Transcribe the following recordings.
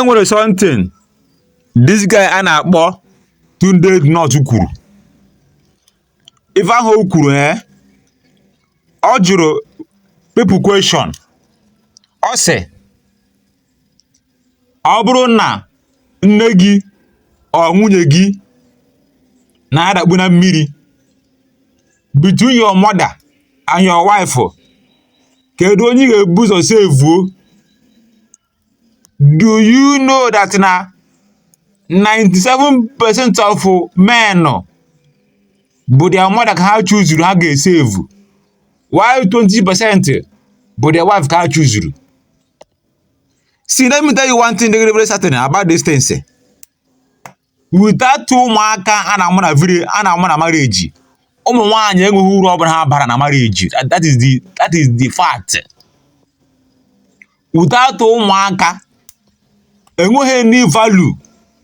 e nwere something this guy a na-akpọ Tunde Ednut kwuru ife ahụ o kwuru ee ọ jụrụ people question ọ sị ọ bụrụ na nne gị or nwunye gị na-adakpu na mmiri between your mother and your wife kedu onye ị ga-ebu ụzọ sevuo do you know that na 97% of men bụ their mother ka ha chuzuru ha ga-esevu while 20% bụ their wife ka ha chuzuru see let me tell you one thing dey very very certain about this thing sir. without ụmụaka a na-amụ na village a na-amụ na marriage ụmụ nwaanyị enweghị uru ọbụla ha bara na marriage that is the that is the fact without ụmụaka enweghị any value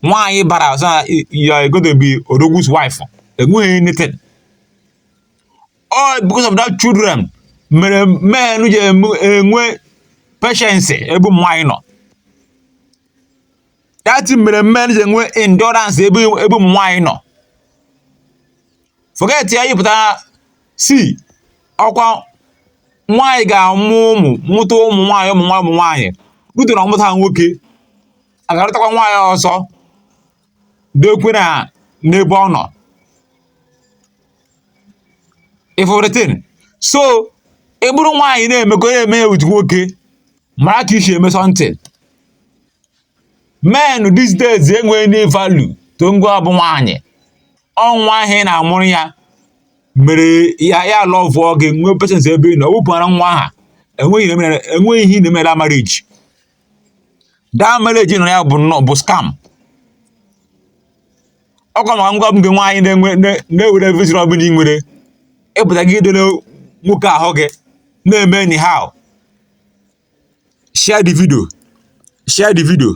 nwaanyị bara ọzọ na you are going to be odogwu's wife enweghị anything all because of that children mere men ji enwe patience ebe ụmụ nwaanyị nọ that mere men ji enwe endurance ebe ebe ụmụ nwaanyị nọ forget ya ị pụta sị ọkwa nwaanyị ga-amụ ụmụ mụta ụmụ nwaanyị ụmụ nwaanyị ụmụ nwaanyị butere ọmụta ha nwoke aga lụtakwa nwaanyị ọzọ dokwe na n'ebe ọ nọ everything so ị bụrụ nwaanyị na-emekọ na-eme with nwoke mara ka i si eme something men these days enweghị any value to gịnwa bụ nwaanyị ọ nwa ahụ ị na-amụrụ ya mere ya ya lọvụọ gị nwee patience ebe ị nọ wepụara nwa ahụ enweghị ihe mere- enweghị ihe ị na-emere na marriage that marriage ị nọ ya bụ nnọọ bụ scam ọkwa maka gịnwa bụ gị nwaanyị na-enwe na- na-ewere vision ọbụla ị nwere ịpụta gị idere nwoke ahụ gị na-eme anyhow share the video share the video